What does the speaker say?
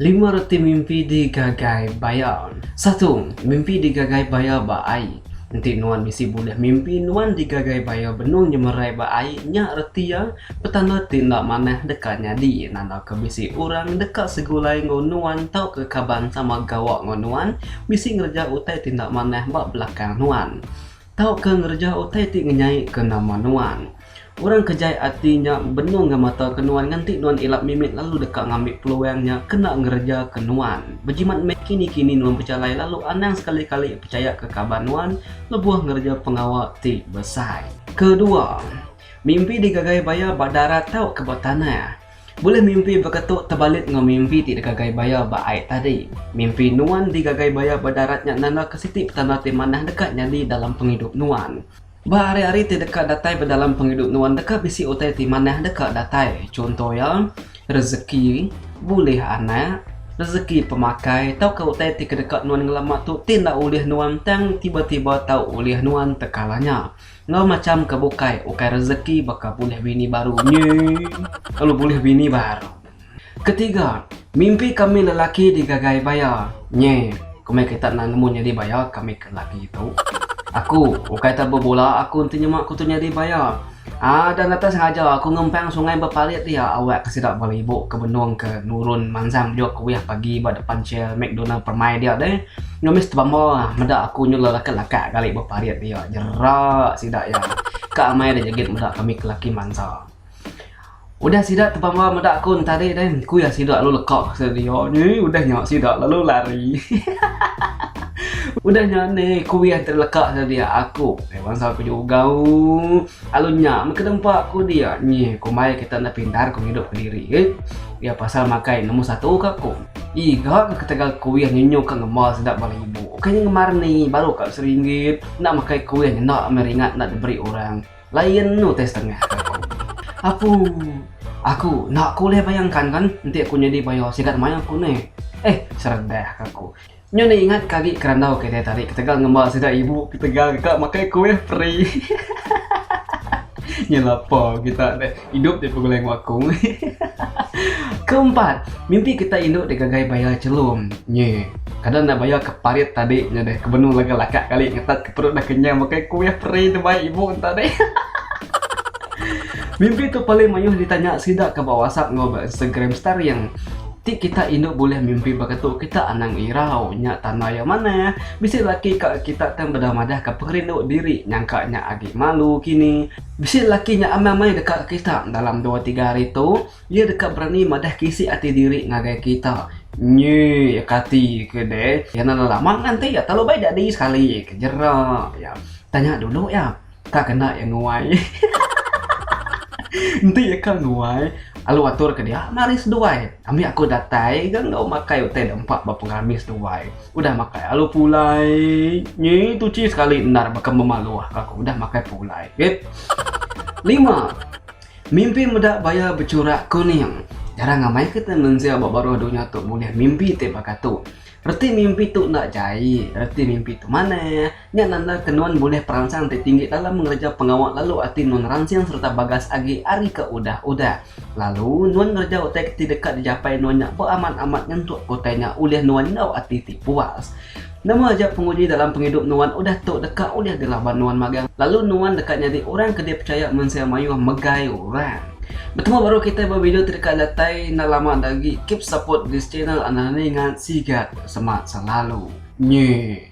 Lima reti mimpi digagai baya. Satu, mimpi digagai baya ba ai. Enti nuan bisi bulih mimpi nuan digagai baya benung nyemerai ba ai nya reti iya petanda ti enda manah deka nyadi nandaka bisi orang deka segulai enggau nuan tauka kaban sama gawa enggau nuan bisi ngereja utai ti enda manah ba belakang nuan. Tauka ngereja utai ti ngenyaika nama nuan. Orang ke jai ati nya benung ngemataka nuan nganti nuan ila mimit lalu deka ngambi peluang nya kena ngerejaka nuan. Bejimat meh kini-kini nuan bejalai lalu anang sekali-kali pechayaka kaban nuan lebuh ngereja pengawa ti besai. Kedua, mimpi digagai baya ba darat tauka ba tanah. Bulih mimpi beketu tebalit enggau mimpi ti digagai baya ba ai tadi. Mimpi nuan digagai baya ba darat nya nandaka siti petanda ti manah deka nyadi dalam pengidup nuan. Ba hari-hari ti deka datai ba dalam pengidup nuan deka bisi utai ti manah deka datai. Chunto iya, rejeki, bulih anak, rejeki pemakai tauka utai ti kedeka nuan ngelama tu ti enda ulih nuan tang tiba-tiba tau ulih nuan tekala nya. Enggau macham ke bukai ukai rezeki baka bulih bini baru nyi lalu bulih bini baru. Ketiga, mimpi kami lelaki digagai baya nyi komai kita enda nemu nyadi baya kami ke lelaki tu. Aku ukai ta bebola aku enti nyema aku tu nyadi baya. Ada ngata sengaja aku ngempang sungai beparit dia awak ke sida bala ibu ke benung ke nurun mansang bejok kuih pagi ba depan chair McDonald permai dia deh. Ngemis tebamba meda aku nyulah laka laka gali beparit dia jera sida iya ka amai da jegit meda kami kelaki mansa. Udah sida tebamba meda aku entari deh ku iya sida lalu leka sedia ni udah nya sida lalu lari udah nya ni ku iya entari leka sedia aku ai bansa ku juga ooh alu nya meh ke nempa ku dia nyi kombai kita enda pintar ku ngidup kediri iya pasal makai nombor satu ka ku. Ih ga ke ketegal kuih nyunyu ka ngema sedap bala ibu. Ukai nya ngema reni baru ka seringgit. Enda makai kuih nyenda meh ringat enda diberi orang. Lain enu utai setengah ka aku. Apu. Aku enda ku ulih bayangkanka enti aku nyadi paya sigat mayuh ku nih. Eh seredah ka aku. Nyu enda ingat ke agi kerandau kitai tadi ketegal ngemba sida ibu ketegal ka makai kuih peri hahaha nya lapa kita deh idup deh begulai enggau aku hahaha keempat mimpi kita indu deh gagai bayar chelum nyi kada enda bayar ke parit tadi nya deh kebenu laga laka kali ngetat ke perut dah kenyang makai kuih peri enda baik ibu enta deh hahaha mimpi tu paling mayuh ditanya sida ke ba wasap enggau ba instagram staring. Ti kita indu bulih mimpi baka tu kita anang irau nya tanda iya manah. Bisi laki ka kita tang beda madahka pengerindu diri nyangka nya agi malu kini. Bisi laki nya amai mai deka kita dalam dua tiga hari tu iya deka berani madahka isi ati diri ngagai kita. Nyi iya kati ke deh. Iya nan lama nganti iya telalu bai jadi sekali ke jerak iya. Tanya dulu iya. Ka kena iya nuai. Enti iya ka nuai, alu atur ke dia, mari seduai. Ambi aku datai ga enggau makai utai da empa ba pengerami seduai. Udah makai alu pulai. Nyi tuchi sekali endar baka memaluh ka aku udah makai pulai. Rit. Lima. Mimpi meda baya bechurak kuning. Jarang amai kita mensia ba baruh dunya tu bulih mimpi ti baka tu. Reti mimpi tu enda jai, reti mimpi tu manah. Nya nanda ke nuan bulih peransang ti tinggi dalam ngereja pengawa lalu ati nuan ransing sereta bagas agi ari ke udah-udah. Lalu, nuan ngereja utai ti deka dijapai nuan nya beamat amat nyentuk ke utai nya ulih nuan enggau ati ti puas. Nama aja penguji dalam pengidup nuan udah tu deka ulih dilaban nuan magang lalu nuan deka nyadi orang ke dipechaya mensia mayuh megai orang. Betemu baru kitai ba video ti deka datai enda lama enda agi keep support this channel and rani ngan sigat semak selalu nyeh.